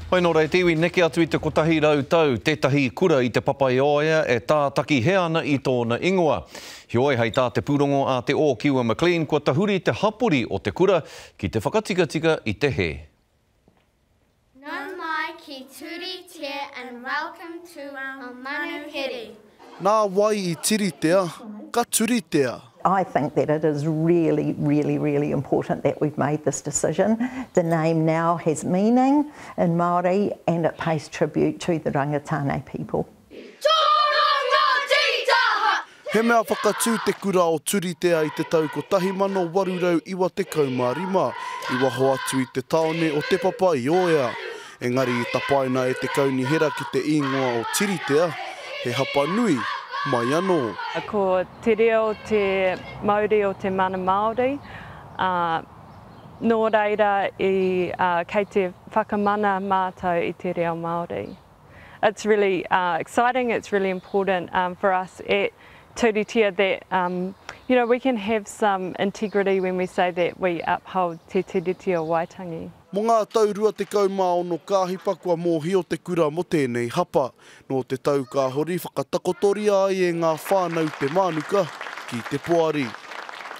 Hoi nō reiti, i neke atu i te kotahi rau tau, tētahi kura i Te Papaioea e tātaki hē ana i tōna ingoa. Heoi, hei tā te pūrongo a Te Ōkiwa McLean, kua tahuri te hapori o te kura ki te whakatikatika i te hē. Nau mai ki Turi Te and welcome to our manuhiri. Nā wai i tiritea, ka turitea. I think that it is really, really, really important that we've made this decision. The name now has meaning in Māori and it pays tribute to the Rangitāne people. He mea whakatū te kura o Turitea i te tau 1895, i waho atu i te tāone o Te Papa-i-ōea. Engari i tapaina e te kaunihera ki te īngoa o Tiritea, he hapa nui, mai anō. Ko te reo te mauri o te mana Māori, ā, nō reira i, ā, kei te whakamana mātou i te reo Māori. It's really, ā, exciting, it's really important, ā, for us at Turitea that, um, you know, we can have some integrity when we say that we uphold te Tiriti o Waitangi. Mō ngā tau rua tekau mā ono ka hipa kua mōhio te kura mō tēnei hapa. Nō te tau ka hori whakatakotoria ai e ngā whānau te mānuka ki te poari.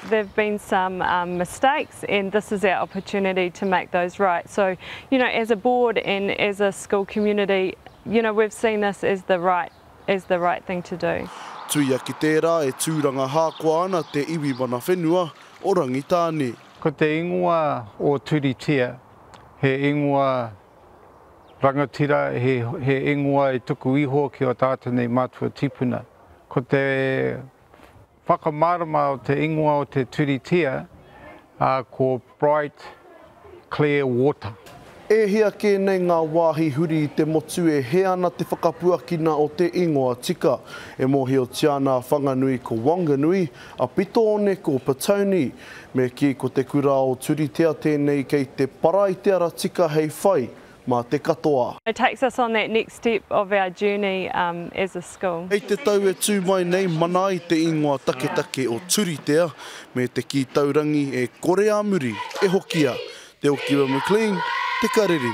There've been some um mistakes and this is our opportunity to make those right. So, you know, as a board and as a school community, you know, we've seen this as the right as the right thing to do. Tuia ki tērā e tūranga hākoa ana te iwi mana whenua o Rangitāne. Ko te ingoa o Turitea, he ingoa rangatira, he ingoa e tuku iho ki o tātou nei mātua tipuna. Ko te whakamārama o te ingoa o te Turitea, ko Bright Clear Water. E hia kē nei ngā wāhi huri i te motu e hē ana te whakapuakina o te ingoa tika. E mōhiotia ana a Whanganui ko Wanganui, a Pitoone ko Petone. Me kī ko te kura o Turitea tēnei kei te para i te ara tika hei whai mā te katoa. It takes us on that next step of our journey as a. Hei te tau e tū mai nei, mana ai te ingoa taketake o Turitea me te kī taurangi e kore a muri e hokia, Te Okiwa McLean, Te Karere.